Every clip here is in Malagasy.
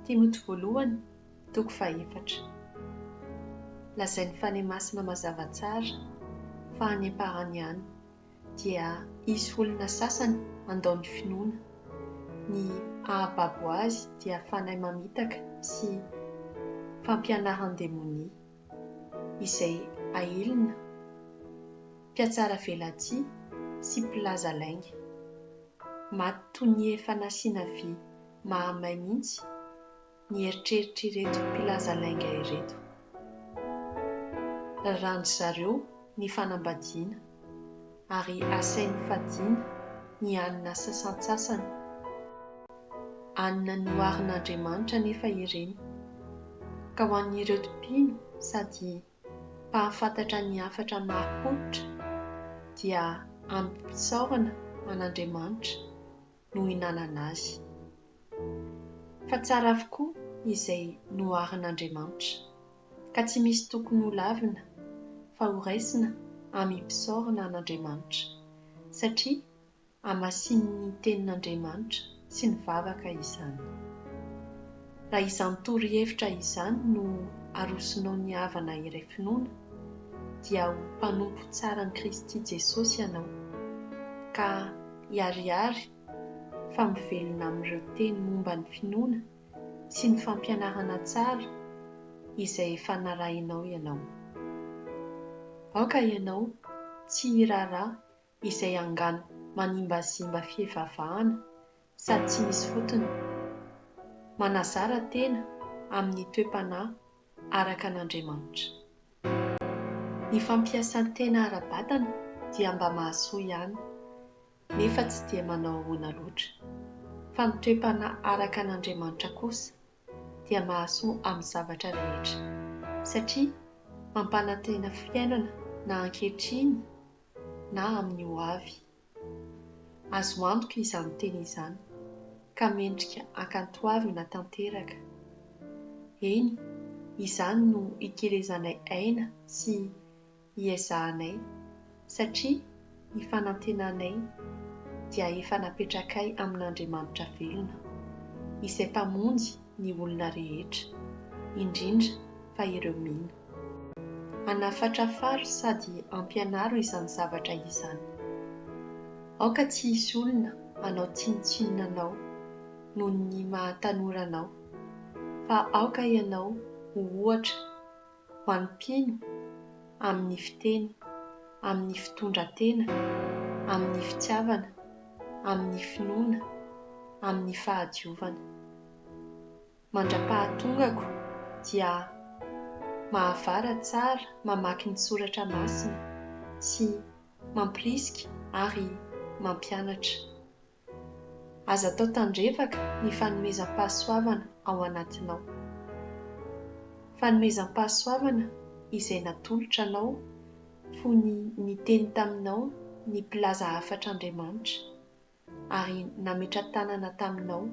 Timoty Voalohany, toko fahefatra. Lazain'ny Fanahy Masina mazava tsara fa any am-parany any dia hisy olona sasany handao ny finoana. Ny hahababo azy dia fanahy mamitaka sy fampianaran-demonia izay hailina, mpiatsara velatsihy sy mpilaza lainga. Maty toy ny efa nasiana vy Mahamay mihitsy ny eritreritr'ireto mpilaza lainga ireto. Raràndry zareo ny fanambadiana ary asainy fadiana ny alina sasantsasany. Alina noharin'Andriamanitra anefa ireny, ka ho an'ireto mpino sady mpahafantatra ny hafatra marim-pototra dia amim-pisaorana an'Andriamanitra no hinanana azy. Fa tsara avokoa izay noharin'Andriamanitra, ka tsy misy tokony ho lavina fa ho raisina amim-pisaorana an'Andriamanitra, satria hamasinin'ny tenin'Andriamanitra sy ny vavaka izany. Raha izany torohevitra izany no arosonao ny havana iray finoana, dia ho mpanompo tsaran'i Kristy Jesosy ianao, ka. hiharihary fa mivelona amin'ireo teny momba ny finoana sy ny fampianarana tsara izay efa narahinao ianao. Aoka ianao tsy hiraharaha izay angano manimbazimba fivavahana sady tsy misy fotony, manazara tena amin'ny toe-panahy araka an'Andriamanitra. Ny fampiasan-tena ara-batana dia mba mahasoa ihany, nefa tsy dia manao ahoana loatra. Fa ny toe-panahy araka an' Andriamanitra kosa dia mahasoa amin'ny zavatra rehetra, satria mampanantena fiainana na ankehitriny na amin'ny hoavy. Azo antoka izany teny izany ka mendrika ankantoavina tanteraka. Eny, izany no ikelezanay aina sy iezahanay, satria ny fanantenanay dia efa napetrakay amin'Andriamanitra velona, izay Mpamonjy ny olona rehetra, indrindra fa ireo mino. Anafatrafaro sady ampianaro izany zavatra izany. Aoka tsy hisy olona hanao tsinontsinona anao noho ny maha tanora anao, fa aoka ianao ho ohatra ho an'ny mpino amin'ny fiteny, amin'ny fitondran-tena, amin'ny fitiavana, amin'ny finoana, amin'ny fahadiovana. Mandra-pahatongako dia mahavara tsara mamaky ny soratra masina sy mampirisika ary mampianatra. Aza atao tandrevaka ny fanomezam-pahasoavana ao anatinao. Fanomezam-pahasoavana izay natolotra anao fony niteny taminao ny mpilaza hafatr'Andriamanitra ary nametra-tanana taminao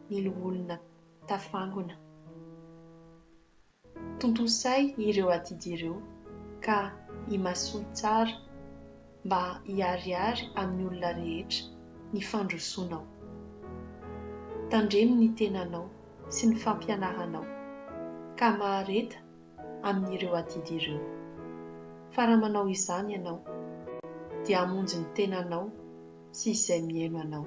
ny loholona tafangona. Tontosay ireo adidy ireo ka imasoy tsara mba hiharihary amin'ny olona rehetra ny fandrosonao. Tandremo ny tenanao sy ny fampianaranao ka mahareta amin'ireo adidy ireo. Fa raha manao izany ianao, dia hamonjy ny tenanao sy izay mihaino anao.